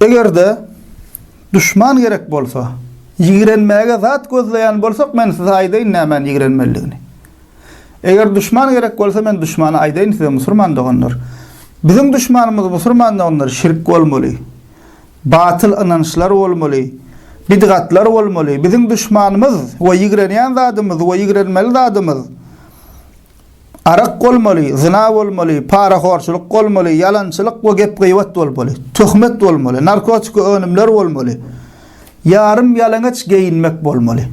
Eger-de duşman gerek bolsa, ýigrenmäge zat gözleýän bolsak, men size aýdaýyn nämäni ýigrenmelidigini. Eger duşman gerek bolsa, men duşmana aýdaýyn size, musurman doganlar. Biziň duşmanymyz, musurman doganlar, şirk bolmaly. Batyl ynançlar bolmaly. Bidgatlar bolmaly. Biziň duşmanymyz we ýigrenýän zadymyz we ýigrenmeli zadymyz, Arak bolmaly, zyna bolmaly, parahorçulyk bolmaly, ýalançylyk we gep-gybat bolmaly, töhmet bolmaly, narkotiki önümler bolmaly, ýarym ýalaňaç geýinmek bolmaly.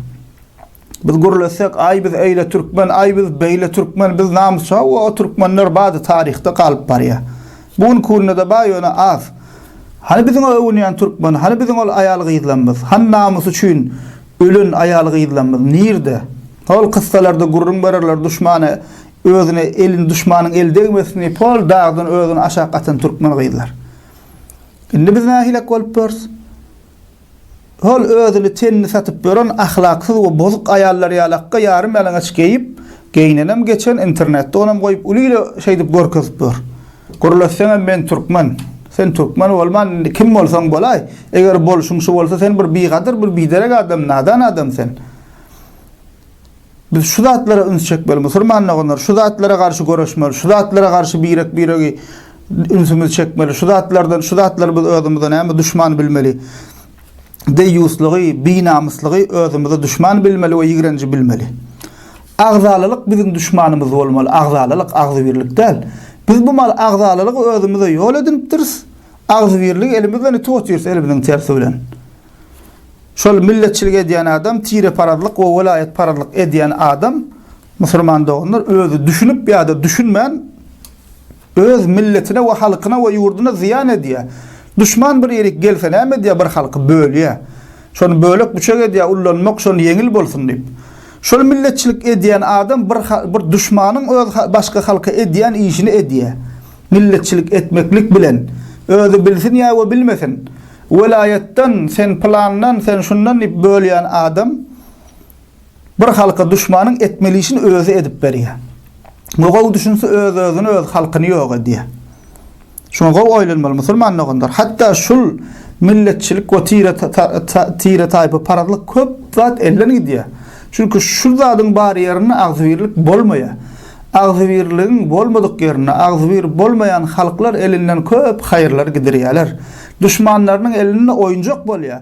Biz gürlesek, aý biz öýle türkmen, aý biz beýle türkmen, biz namysa we o türkmenler bady taryhda galyp barýa. Bu gün künde-de bar ýöne az. Hany biziň o öwünýän türkmen, hany biziň ol aýal-gyzlarymyz, hany namys üçin Ölen aýal-gyzlarymyz nirde? Hol kyssalarda gürrüň bererler duşmana özüne elin duşmanyň eli degmesin diýip hol dagdan özüni aşak atan türkmen gyzlar. Indi biz nähilek bolup ýörüs? Hol özüni tenini satyp ýören ahlaksyz we bozuk aýallar ýaly akga ýarym ýalaňaç geýip geýnenem geçen internetde onam goýup uly-uly şeýdip görkezip ýör. Gürletseňem men türkmen. Sen türkmen bolman indi kim bolsaň bolaý. Eger bolşuň şu bolsa sen bir bigadyr bir biderek adam nadan adam sen. Biz şu zatlara üns çekmeli musurman doganlar şu zatlara garşy göreşmeli şu zatlara garşy birek biregi ünsümizi çekmeli şu zatlardan şu zatlarymyz özümize näme duşman bilmeli. deýýuslygy, binamyslygy özümize duşman bilmeli we ýigrenji bilmeli. Agzalalyk biziň duşmanymyz bolmaly, agzalalyk, agzybirlik däl. Biz bu mal agzalalygy özümize ýol edinipdiris, agzybirligi elimiz bilen ýitip otyrys, elimiziň tersi bilen. Şol milletçilik edýän adam, tireparazlyk we welaýatparazlyk edýän adam, musulman doganlar, özi düşünip ýa-da düşünmän, Öz milletine we halkyna we ýurduna zyýan edýär. Duşman bir ýerik gelse näme edýär bir halky bölýär. Şony bölek büçek edýär ullanmak şony ýeňil bolsun diýip. Şol milletçilik edýän adam bir bir duşmanyň öz başga halka edýän işini edýär. Milletçilik etmeklik bilen özi bilsin ýa we bilmesin welaýatdan sen pylandan sen şundan diýip bölýän adam Bir halka duşmanyň etmeli işini özi edip berýär. Muňa gowy düşünse öz-özüni öz halkyny ýok edýär. Şuňa gowy oýlanmaly musulman doganlar. Hatda şul milletçilik we tire tire taýpa parazlyk köp zat elden gidýär. Çünki şul zadyň bar ýerinde agzybirlik bolmaýar. Agzybirligiň bolmadyk ýerinde agzybir bolmaýan halklar elinden köp haýyrlar gidirýärler. Duşmanlarynyň elinde oýunjak bolýar.